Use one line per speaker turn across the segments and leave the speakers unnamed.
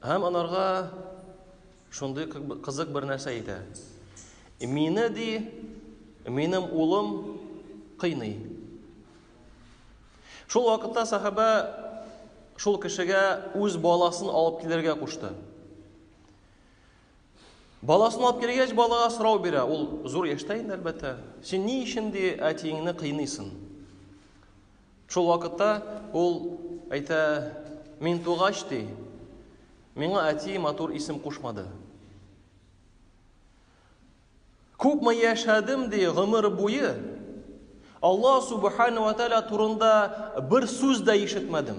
Һәм анарга шундый кызык бер нәрсә әйтә. Мине ди, минем улым кыйный. Шул вакытта сахабә шул кешегә үз баласын алып килергә кушты. Баласын алып килгәч, балага сорау бирә. Ул зур яшьтә инде, әлбәттә. Син ни өчен ди әтиеңне кыйныйсың? Шул вакытта ул әйтә, Мин тугач, ди, миңа әти матур исем кушмады. Күпме яшәдем, ди, гомер буе Алла Субхану ва Тааля турында бер сүз дә ишетмәдем.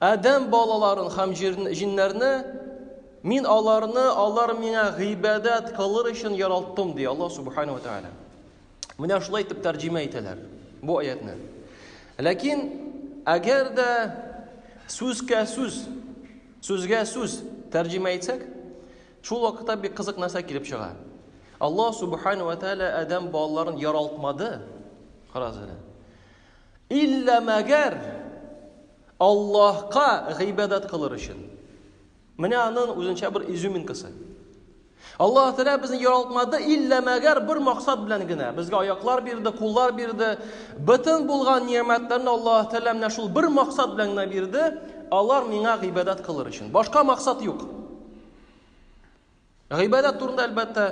Адәм балаларын һәм җиннәрне Мин аларны, алар миңа гыйбадәт кылыр өчен яралттым, ди Аллаһ Субхану ва Тааля. Менә шулай итеп тәрҗемә итәләр бу аятны. Ләкин әгәр дә сүзгә сүз, сүзгә сүз тәрҗемә итсәк, шул вакытта бик кызык нәрсә килеп чыга. Аллаһ Субхану ва Тааля Адәм балаларын яралтмады. Карагыз әле. Иллә мәгәр Аллаһка гыйбадәт кылыр өчен. Менә аның үзенчә бер изюминкасы. Аллаһ Тәгалә безне яралтмады, иллә мәгәр бер максат белән генә. Безгә аяклар бирде, куллар бирде. Бөтен булган ниәмәтләрне Аллаһ Тәгалә менә шул бер максат белән генә бирде, алар миңа гыйбадәт кылыр өчен. Башка максат юк. Гыйбадәт турында әлбәттә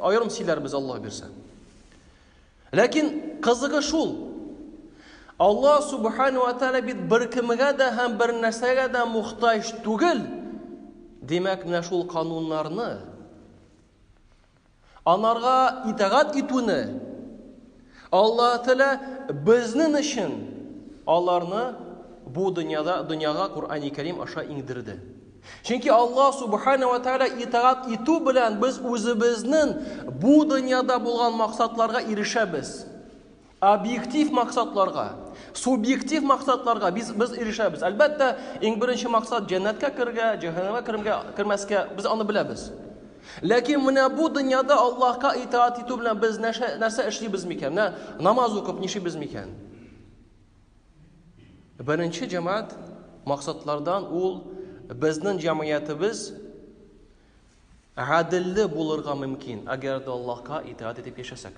аерым сөйләрбез Аллаһ бирсә. Ләкин кызыгы шул. Аллаһ субхану ва тааля бит беркемгә дә һәм бер нәрсәгә дә мохтаҗ түгел. Димәк, менә шул кануннарны анарга итагать итүне Аллаһ Тәгалә безнең өчен аларны бу дөньяда дөньяга Коръәни Кәрим аша иңдерде. Чөнки Аллаһ Субхана ва Тәгалә итагать итү белән без үзебезнең бу дөньяда булган максатларга ирешәбез. Объектив максатларга, субъектив максатларга без без ирешәбез. Әлбәттә, иң беренче максат җәннәткә кергә, җәһәннәмгә кермәскә, без аны беләбез. Ләкин менә бу дөньяда Аллаһка итаат итү белән без нәрсә, нәрсә эшлибез микән? Менә намаз укып нишибез микән? Беренче җәмәгать максатлардан ул безнең җәмгыятебез гаделле булырга мөмкин, әгәр дә Аллаһка итаат итеп яшәсәк.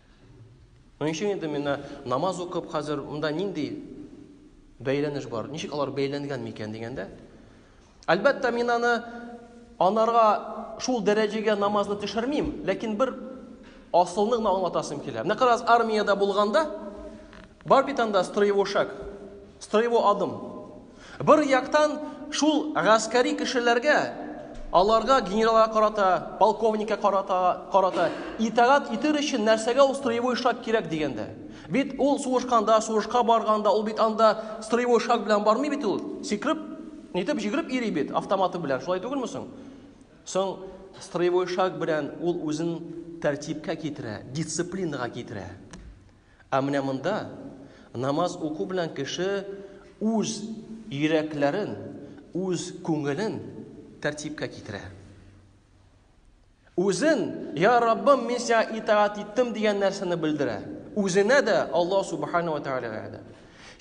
Моның өчен инде менә намаз укып хәзер монда нинди бәйләнеш бар? Ничек алар бәйләнгән микән дигәндә? Әлбәттә, мин аны анарга шул дәрәҗәгә намазны төшермим, ләкин бер асылны гына аңлатасым килә. Менә карагыз, армиядә булганда Бар бит анда строевой шаг, строевой адым. Бер яктан шул гаскәри кешеләргә, аларга генералга карата, полковникка карата, карата итагат итер өчен нәрсәгә ул строевой шаг кирәк дигәндә? Бит ул сугышканда, сугышка барганда, ул бит анда строевой шаг белән бармый бит ул. Сикреп, нитеп җигреп йөри бит автоматы белән. Шулай түгелме соң? Соң строевой шаг белән ул үзен тәртипкә китерә, дисциплинага китерә. Ә менә монда намаз уку белән кеше үз йөрәкләрен, үз күңелен тәртипкә китерә. Үзен, я Раббым, мин сиңа итаат иттем дигән нәрсәне белдерә. Үзенә дә, Аллаһ Субхану ва Тәгаләгә дә.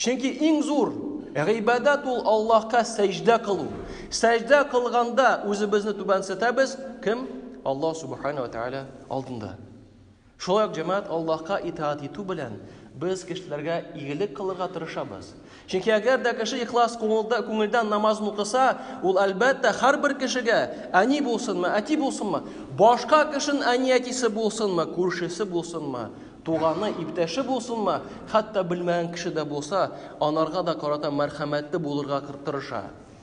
Чөнки иң зур гыйбадәт ул Аллаһка сәҗдә кылу. Сәҗдә кылганда үзебезне түбәнсетәбез, кем? Аллаһ Субхану ва Тәгалә алдында. Шулай ук җәмәгать Аллаһка итаать итү белән, без кешеләргә игелек кылырга тырышабыз. Чөнки әгәр дә кеше ихлас күңелдән намазын укыса, ул, әлбәттә, һәрбер кешегә, әни булсынмы, әти булсынмы, башка кешенең әни-әтисе булсынмы, күршесе булсынмы, туганы, иптәше булсынмы, хәтта белмәгән кеше дә булса, анарга да карата мәрхәмәтле булырга тырыша.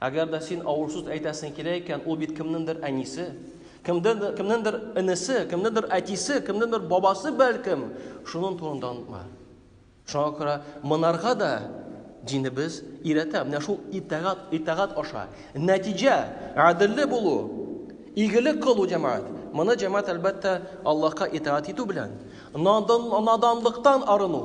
Әгәр дә син авыр сүз әйтәсең килә икән, ул бит кемнеңдер әнисе, кемдер, кемнеңдер энесе, кемнеңдер әтисе, кемнеңдер бабасы бәлкем, шуның турында онытма. Шуңа күрә монарга да динебез өйрәтә. Менә шул итагат, итагат аша. Нәтиҗә, гаделле булу, игелек кылу җәмәгать. Моны җәмәгать әлбәттә Аллаһка итагат итү белән, надан, наданлыктан арыну.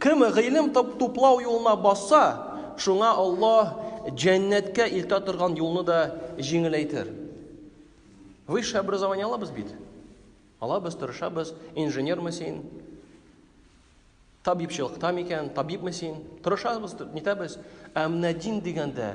Кем гыйлем туплау юлына басса, шуңа Аллаһ җәннәткә илтә торган юлны да җиңеләйтер. Высшее образование алабыз бит. Алабыз, тырышабыз. Инженермы син? Табибчылыкта микән? Табибме син? Тырышабыз, нитәбез. Ә менә дин дигәндә,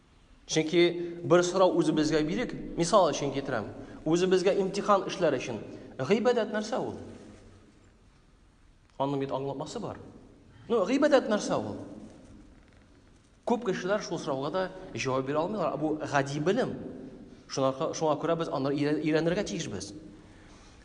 Чөнки бер сорау үзебезгә бирик, мисал өчен китерәм. Үзебезгә имтихан эшләр өчен гыйбадәт нәрсә ул? Аның бит аңлатмасы бар. Ну, гыйбадәт нәрсә ул? Күп кешеләр шул сорауга да җавап бирә алмыйлар. Бу гади белем. Шуңа күрә без аны өйрәнергә тиешбез.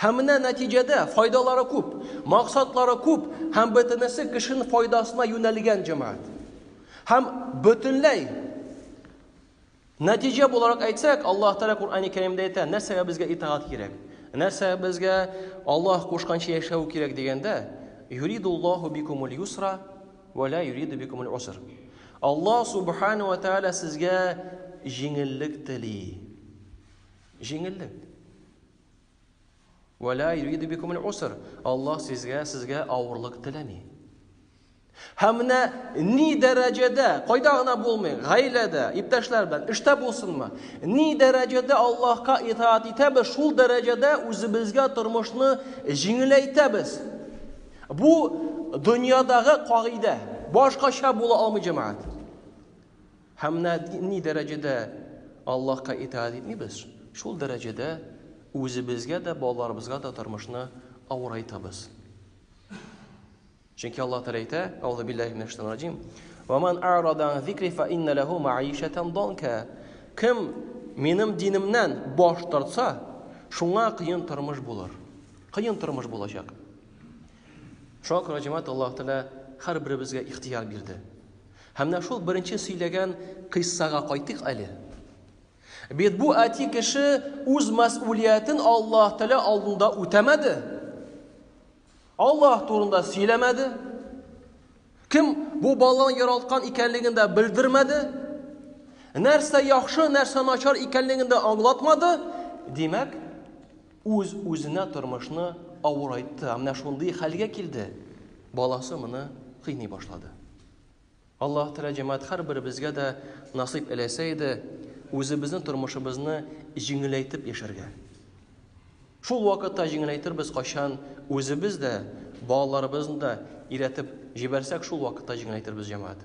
Һәм менә нәтиҗәдә, файдалары күп, максатлары күп һәм бөтенесе кешен файдасына юнәлгән җәмәгать. Һәм бөтенләй нәтиҗә буларак әйтсәк, Аллаһ Тәгалә Куръани Кәримдә әйтә, нәрсәгә безгә итагать кирәк? Нәрсә безгә Аллаһ кушканча яшәү кирәк дигәндә, юридуллаһу бикумул юсра ва ла юриду бикумул уср. Аллаһ Субхана ва Тәгалә сезгә җиңеллек тели. Җиңеллек. Вә ла юриду бикум аль-уср. Аллаһ сезгә, сезгә авырлык теләми. Һәм менә ни дәрәҗәдә, кайда гына булмый, гаиләдә, иптәшләр белән, эштә булсынмы, ни дәрәҗәдә Аллаһка итаат итәбез, шул дәрәҗәдә үзебезгә тормышны җиңеләйтәбез. Бу дөньядагы кагыйдә. Башкача була алмый җәмәгать. Һәм менә ни дәрәҗәдә Аллаһка итаәт итмибез, шул дәрәҗәдә үзебезгә дә, балаларыбызга да тормышны авырайтабыз. Чөнки Аллаһ Тәгалә әйтә, Аузу биллаһи минәш шайтанир раҗим. Ва ман арада ан зикри фа инна лаху маишатан данка. Кем минем динемнән баш тартса, шуңа кыен тормыш булыр. Кыен тормыш булачак. Шуңа күрә җәмәгать Аллаһ Тәгалә һәрберебезгә ихтыяр бирде. Һәм менә шул беренче сөйләгән кыйссага кайтыйк әле. Бит бу әти кеше үз мәсъулиятен Аллаһ Тәгалә алдында үтәмәде. Аллаһ турында сөйләмәде. Кем бу баланы яралткан икәнлеген дә белдермәде. Нәрсә яхшы, нәрсә начар икәнлеген дә аңлатмады. Димәк, Үз-үзенә тормышны авырайтты, ә менә шундый хәлгә килде, баласы моны кыйный башлады. Аллаһ Тәгалә җәмәгать һәрберебезгә дә насыйп эләсә иде, үзебезнең тормышыбызны җиңеләйтеп яшәргә. Шул вакытта җиңеләйтербез кайчан үзебез дә, балаларыбызны да иретеп җибәрсәк, шул вакытта җиңеләйтербез җәмәгать.